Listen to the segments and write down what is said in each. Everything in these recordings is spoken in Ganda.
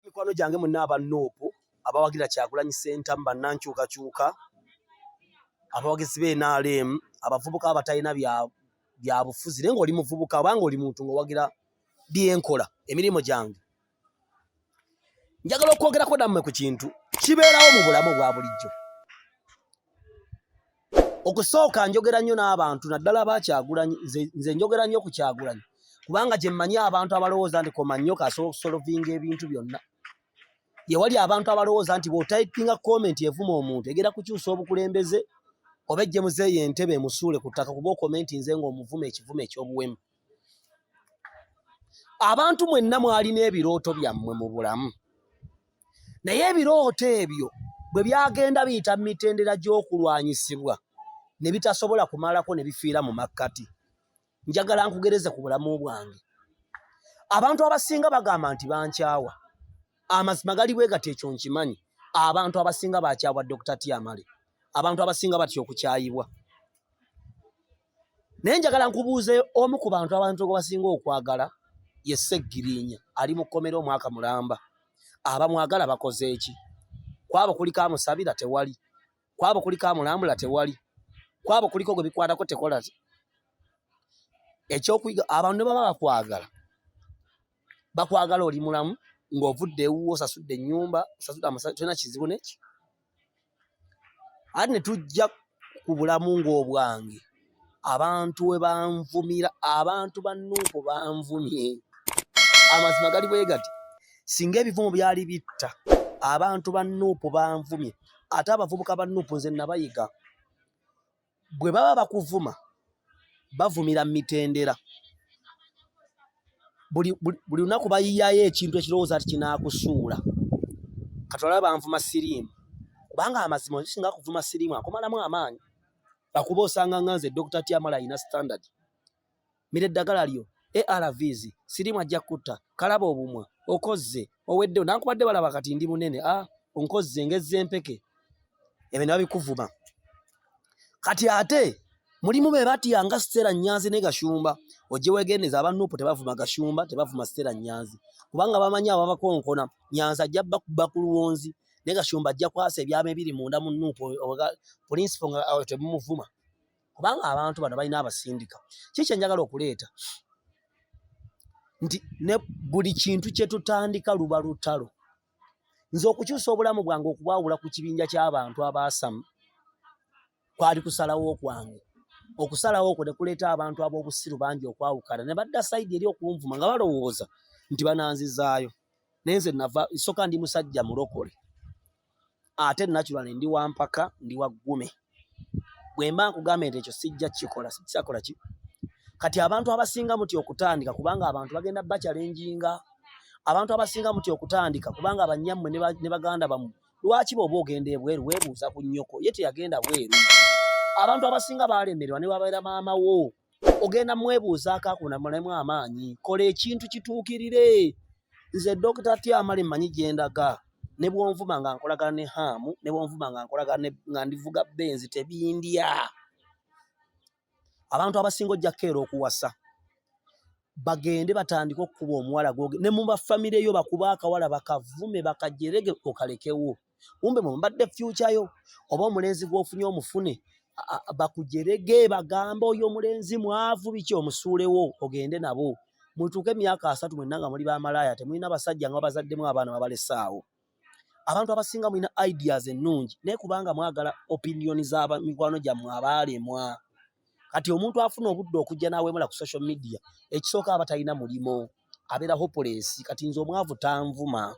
mikwano gyange munna aba nup abawagira kyagulanyi sentamu bannankyukakyuka abawagizi be nrm abavubuka abatalina byabufuzi naye ngaoli muvubuka obanga oli muntu ngaowagira byenkola emirimu gyange njagala okwogerako nammwe ku kintu kibeerawo mu bulamu obwa bulijjo okusooka njogera nnyo n'abantu naddala abakyagulanyi nze njogera nnyo ku kyagulanyi kubanga gye mmanyi abantu abalowooza nti koma nnyo kasobola okusolovinga ebintu byonna yewali abantu abalowooza nti bw'otayipinga komenti evuma omuntu egera kukyusa obukulembeze oba ejje muzeeyo entebe emusuule ku ttaka kuba okomentinze ng'omuvuma ekivumo eky'obuwemu abantu mwenna mwalina ebirooto byammwe mu bulamu naye ebirooto ebyo bwe byagenda biyita mu mitendera gy'okulwanyisibwa ne bitasobola kumalako ne bifiira mu makkati njagala nkugereze ku bulamu bwange abantu abasinga bagamba nti bankyawa amazima gali bwe gati ekyo nkimanyi abantu abasinga bakyawa dokita tiamale abantu abasinga batya okukyayibwa naye njagala nkubuuze omu ku bantu abantu gwebasinga okwagala ye seggirinya ali mu kkomera omwaka mulamba abamwagala bakoze eki kwabo kuliko amusabira tewali kwabo kuliko amulambula tewali kwabo kuliko gwe bikwatako tekola ekyokuyiga abantu ne baba bakwagala bakwagala oli mulamu ng'ovudde ewuwo osasudde ennyumba osasudde amasanyalaze tolina kizibu neki ate ne tujja ku bulamu ng'obwange abantu we banvumira abantu ba nuupu banvumye amazima gali bwe gati singa ebivumo byali bitta abantu ba nuupu banvumye ate abavubuka ba nuupu nze nabayiga bwe baba bakuvuma bavumira mu mitendera buli lunaku bayiyayo ekintu ekirowooza nti kinaakusuula katwala banvuma siriimu kubanga amazima osinga kuvuma siriimu akomalamu amaanyi akuba osanga nganze dokita tyamala alina standard mira eddagala lyo arvs sirimu ajja kutta kalaba obumwa okozze oweddewo nankubadde balaba kati ndi munene a ah, onkozze ngezza empeke ebyo ne babikuvuma kati ate mulimu be batya nga sitera nyanzi ne gashumba ojje wegendeza abanuupu tebavuma gashumba tebavuma sitera nyanzi kubanga bamanyi ababakonkona nyanzi ajja bakuba ku luwonzi ne gashumba ajja kwasa ebyama ebiri munda mu nuupu pulinsipo nga temumuvuma kubanga abantu bano balina abasindika kiki enjagala okuleeta nti ne buli kintu kyetutandika luba lutalo nze okukyusa obulamu bwange okubawula ku kibinja ky'abantu abaasamu kwali kusalawo kwange okusalawo okwo ne kuleeta abantu ab'obusiru bangi okwawukana ne badda sayidi eri okunvuma nga balowooza nti bananzizaayo naye nze nava soka ndi musajja mulokole ate naturally ndi wa mpaka ndi wa ggume bwe mba nkugambye nti ekyo sijja kikola sikisakola ki kati abantu abasinga muti okutandika kubanga abantu bagenda bakyalenjinga abantu abasinga muti okutandika kubanga abanyammwe ne baganda bamu lwaki bwoba ogenda ebweru webuuza ku nnyoko ye teyagenda bweru abantu abasinga balemererwa ne wabeera maama wo ogenda mwebuuzaako akunamulemu amaanyi kola ekintu kituukirire nze dokita tyamale mmanyi gye ndaga ne bwonvuma nga nkolagana ne haamu ne bwonvuma nga nkolagana nga ndivuga benzi tebindya abantu abasinga ojja kukeera okuwasa bagende batandike okukuba omuwala gwoge ne mu bafamire yo bakuba akawala bakavume bakajerege okalekewo kumbe mwe mbadde future yo oba omulenzi gwofunye omufune bakujerege bagamba oyo omulenzi mwavu biki omusuulewo ogende nabo mutuuke emyaka asatu mwenna nga muli bamalaaya temulina basajja nga babazaddemu abaana babalesaawo abantu abasinga mulina ideas ennungi naye kubanga mwagala opinion za mikwano gyammwe abaalemwa kati omuntu afuna obudde okujja n'awemula ku social media ekisooka abatalina mulimo abeera hopulesi kati nze omwavu tanvuma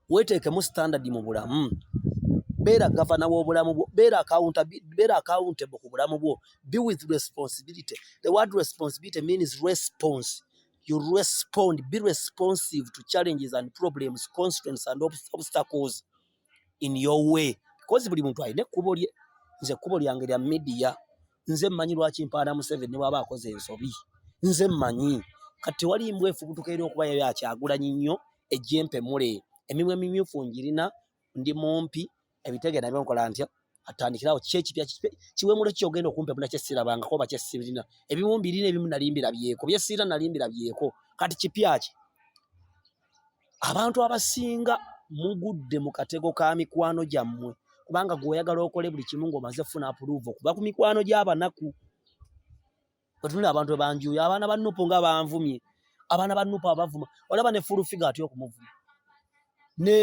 weeteekemu sitandadi mu bulamu beera gavana w'obulamu bwo beera akawunta beera akawuntebo ku bulamu bwo be with responsibility the word responsibility means response you respond be responsive to challenges and problems constraints and obstacles in your way because buli muntu alina ekkubo lye nze ekkubo lyange lya media nze mmanyi lwaki mpaana museveni bwaba akoze ensobi nze mmanyi kati wali mbw efubutuka eri okuba yayo akyagulanyi nnyo ejjempe mule emimwa emimyufu ngirina ndi mumpi ebitegera nabyo nkola ntya atandikirawo ki ekipya kiwemulo ki ogenda okumpa muna kyesirabangako oba kyesirina ebimu mbirina ebimu nalimbira byeko byesirina nalimbira byeko kati kipya ki abantu abasinga mugudde mu katego ka mikwano gyammwe kubanga gweoyagala okole buli kimu ngaomaze funa apuluvu okuba ku mikwano gy'abanaku Otunula abantu ebanjuyo abaana ba Nupu nga banvumye abaana ba Nupu abavuma olaba ne full figure atyo okumuvuma ne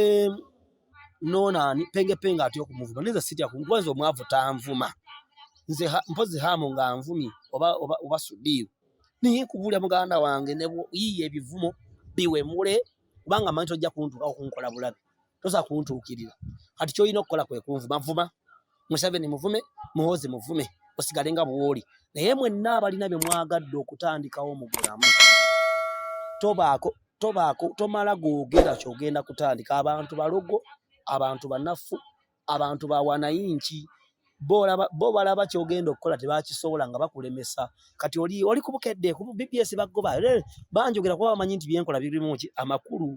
nonani penge penge atyo okumuvuma nze sitya kwanza omwavu tanvuma nze ha, mpozi hamu nga nvumye oba oba, oba sudiru niye kubulya muganda wange ne yiye ebivumo biwe mure kubanga manyi tojja kuntuka okunkola bulabi toza kuntuukirira kati kyolina okukola kwe kunvuma vuma museveni muvume muhozi muvume osigale nga bwoli naye mwenna abalina bye mwagadde okutandikawo mu bulamu tobaako tobaako tomala googera kyogenda kutandika abantu balogo abantu banaffu abantu bawanayinki bo balaba kyogenda okukola tebakisobola nga bakulemesa kati oli oli kubukedde ku bbs bagoba banjogera kuba bamanyi nti byenkola birimu ki amakulu